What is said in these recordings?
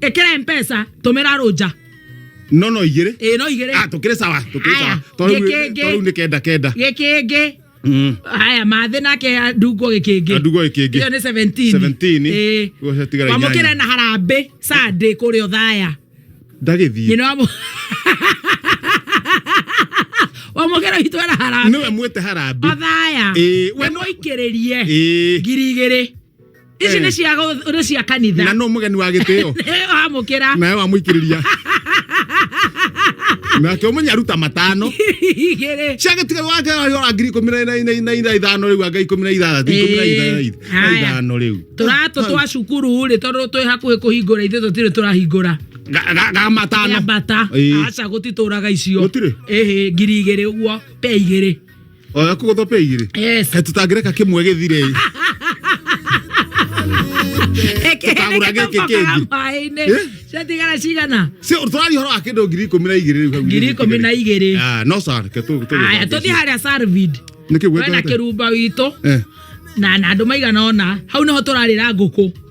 Ekere mpesa tomera roja. no no igere Eh no igere. ah tukire sawa tukire Aya, sawa toru gikenge. toru ni kenda kenda Gikenge. mm Haya mathe nake ndungo gikenge. Ndungo gĩkĩngĩ. Iyo ni 17. 17. Eh. Ũguo ciatigara inyanya. Wamukire na harambe sande kuri othaya. ndagithie Nyina wamu. Wamukire hitu na harambe. niwe mwite harambi Othaya. Eh, we no- Wamukiririe. eh Ngiri igĩrĩ. ici nĩ cia gũ- nĩ cia kanitha na no mũgeni wa gĩtĩo amũkĩra nawe wamũikĩrĩria nake ũmenye aruta matano igĩrĩ ciagĩtiga wake ora ngiri ikũmi na- na- na- na na ithano rĩu anga ikũmi na ithathatũ ikũmi na itha- na itha- na Haya. ithano rĩu tũratũ twa cukuru rĩ tondũ twĩ hakuhĩ kũhingũra ithuĩ tũtirĩ tũrahingũra Ga- ga- ga matano yambata Ĩĩ. aca gũtitũraga icio Gũtirĩ? ĩhĩ ngiri igĩrĩ ũguo pe igĩrĩ oya kugothope igiri Yes. He, tutangireka kimwe githire Tũkagũra gĩkĩ kĩngĩ. maĩ-inĩ Eh? ciatigara cigana si turari horo wa kindu ngiri ikumi na igiri riu hau ngiri ikumi na igiri ah no sir ke tu tu aya tå thiä harä a sarvid niki wena gwetete kä rumba witå eh na na andå maigana ona hau nä ho tå rarä ra ngå kå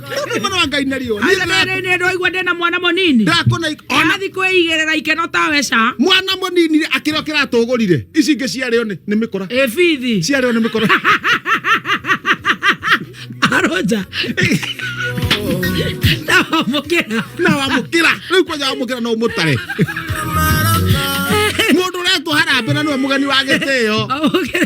Nĩ mwana wa Ngai na riũa. Niĩ Aca ndĩra- rĩrĩ nĩ ndwaigua ndĩ na mwana mũnini ndakũna ik- ona arathiĩ kwĩigĩrĩra ikeno ta weca mwana mũnini rĩ, akĩrĩ o kĩratũgũrire ici ingĩ ciarĩo nĩ nĩ mĩkora ĩbithi ciarĩo nĩ mĩkora aroja ndawamũkĩra na wamũkĩra rĩu kwanja wamũkĩra no ũmũtare mũndũ ũretwo harambĩ na nĩwe mũgeni wa gĩtĩo amũkĩra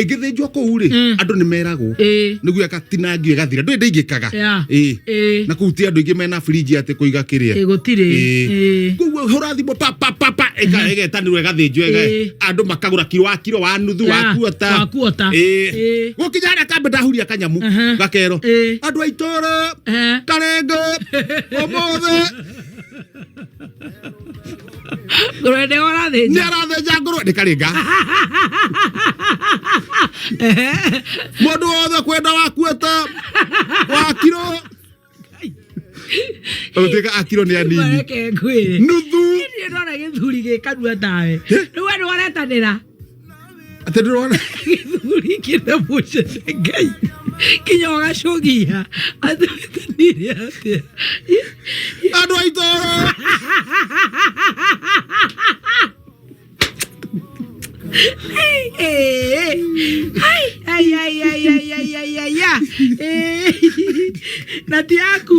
ĩngĩthĩnjwo kũu rĩ Mm. andũ nĩ meragwo ĩĩ nĩguo agatinangio ĩgathira ndũĩ ndĩingĩkaga Yeah. Ĩĩ. ĩĩ na kũu ti andũ aingĩ mena birinji atĩ kũiga kĩrĩa ĩĩ gũtirĩ Ĩĩ. ĩĩ koguo hũra thimũ pa pa pa pa ĩka- ĩgetanĩrwo ĩgathĩnjwo ĩga- Ĩĩ. andũ makagũra kiro wa kiro wa nuthu wa Yeah, kuota wa kuota. Ĩĩ. Ĩĩ. gũkinya harĩa kambe ndahuria kanyamu Mhm. gakero Ĩĩ. andũ a itũra Eh. karengo ũmũthĩ ngũrwe nĩ ũrathĩnja nĩ arathĩnja ngũrwe nĩ karĩnga mũndũ wothe kwenda wakuĩte wakirwo ũtuĩka akirwo nĩ anini mareke ngwĩre nuthu niĩ ndona gĩthuri gĩkanua tawe rĩu we nĩ waretanĩra Atĩ ndĩrona gĩthuri kĩna mũcete ngai kinya ũgacogia atũĩtanire atĩa andũ a itoro na ti yaku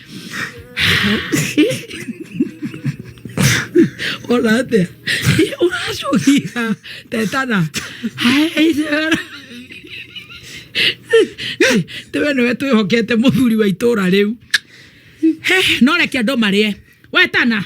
Orate. Orajoria. Tetana. Hai. Tewe nĩwe twĩhokete mũthuri wa itũũra rĩu. He, no reke andũ marĩe. We tana.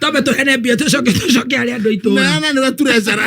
twambe tũhene mbia tũcoke tũcoke harĩ andũ aitũ na na nä gaturä cara